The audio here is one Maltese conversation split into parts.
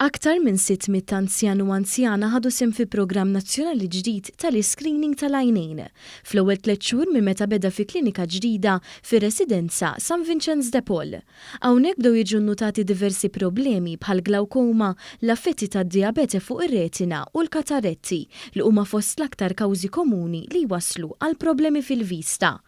Aktar minn 600 anzjan u anzjana ħadu sehem fi programm nazzjonali ġdid tal-iscreening tal-għajnejn fl-ewwel tliet xhur minn meta beda fi klinika ġdida fir-residenza San Vinċenz de Paul. Hawnhekk bdew jiġu nnutati diversi problemi bħall-glawkoma, l-affetti tad-dijabete fuq ir-retina u l-katarretti li huma fost l-aktar kawżi komuni li jwasslu għal problemi fil-vista.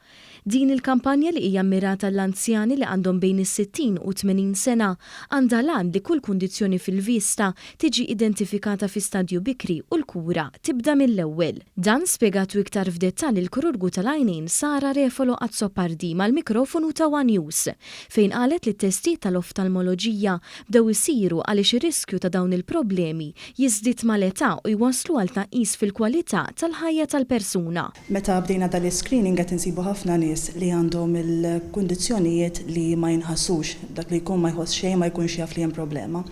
Din il-kampanja li hija mmirata għall-anzjani li għandhom bejn is-60 u t-tmenin sena għandha l-għan li kull kundizzjoni fil-vista tiġi identifikata fi stadju bikri u l-kura tibda mill-ewwel. Dan spjegatu iktar f'dettall il-Krurgu tal-Għajnejn Sara Refalo Azzopardi mal-mikrofonu ta' one News fejn qalet li t-testijiet tal-oftalmoloġija bdew isiru għaliex ir-riskju ta' dawn il-problemi jiżdied mal-età u jwasslu għal tnaqqis fil-kwalità tal-ħajja tal-persuna. Meta bdejna dan l-iscreening qed insibu ħafna nies li għandhom il-kundizzjonijiet li ma jinħassux, dak li jkun ma jħoss xejn ma jkunx jaf li hemm problema.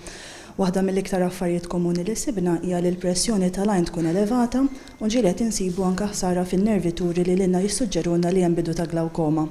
Waħda mill-iktar affarijiet komuni li sibna hija li l-pressjoni tal-għajn tkun elevata u ġieli qed insibu anke ħsara fin-nervi turi li lilna jissuġġerulna li hemm bidu ta' glawkoma.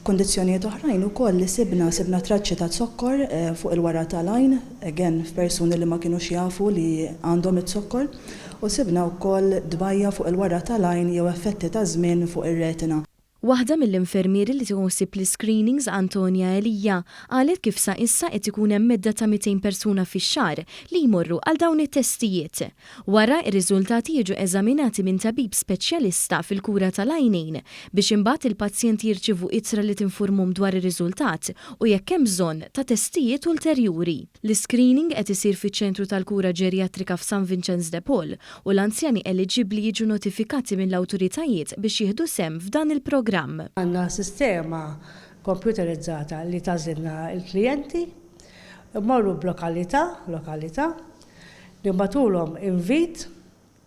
F'kundizzjonijiet oħrajn ukoll li sibna, sibna traċċi ta' zokkor fuq il-wara tal-għajn, again f'persuni li ma kinux jafu li għandhom iz-zokkor, u sibna wkoll dbajja' fuq il-wara tal-għajn jew effetti taż-żmien fuq ir-retina. Waħda mill-infermieri li tieħu ħsieb l-iscreenings, Antonia Elia, qalet kif sa issa qed ikun hemm medda ta' 200 persuna fix-xahar li jmorru għal dawn it-testijiet. Wara, ir-riżultati jiġu eżaminati minn tabib speċjalista fil-kura tal-għajnejn biex imbagħad il-pazjenti jirċievu ittra li tinfurmhom dwar ir-riżultat u jekk hemm bżonn ta' testijiet ulterjuri. L-iscreening qed isir fiċ-Ċentru tal-Kura Ġerjatrika f'San Vinċenz de Paul u l-anzjani eliġibbli jiġu notifikati mill-awtoritajiet biex jieħdu sehem f'dan il-programm. Għandna sistema kompjuterizzata li tagħżilna l-klijenti. Immorru b'lokalità, lokalità, Nibgħatulhom invit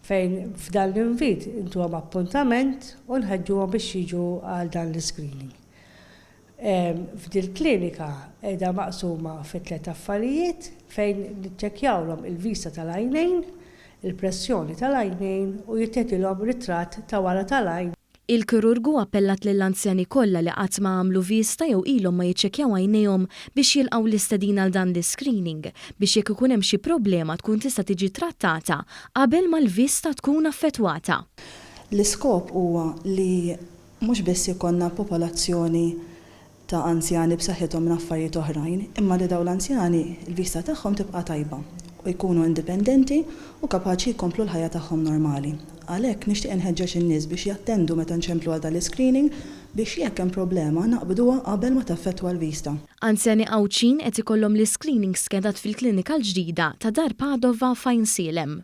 fejn f'dan l-invit intuhom appuntament u nħeġġuhom biex jiġu għal dan l-iscreening. F'dil-klinika qiegħda maqsuma fi tliet affarijiet fejn niċċekkjawlhom il-vista tal-għajnejn, il-pressjoni tal-għajnejn u jittiedilhom ritratt ta' wara tal-għajn. Il-kirurgu appellat lill-anzjani kollha li qatt ma għamlu viżta jew ilhom ma jiċċekkjaw għajnejhom biex jilqgħu l-istedina għal dan l-iscreening biex jekk ikun hemm xi problema tkun tista' tiġi ttrattata qabel ma l-viżta tkun affettwata. L-iskop huwa li mhux biss jkollna popolazzjoni ta' anzjani b'saħħithom minn affarijiet oħrajn, imma li dawn l-anzjani l-vista tagħhom tibqa' tajba u jkunu indipendenti u kapaċi jkomplu l-ħajja tagħhom normali. Għalhekk, nixtieq inħeġġeġ in-nies biex jattendu meta nċemplu għal dan l-iscreening biex jekk hemm problema naqbduha qabel ma taffettwa l-vista. Anzjani Għawdxin qed ikollhom l-iscreening skedat fil-klinika l-ġdida ta' Dar Padova f'Għajnsielem.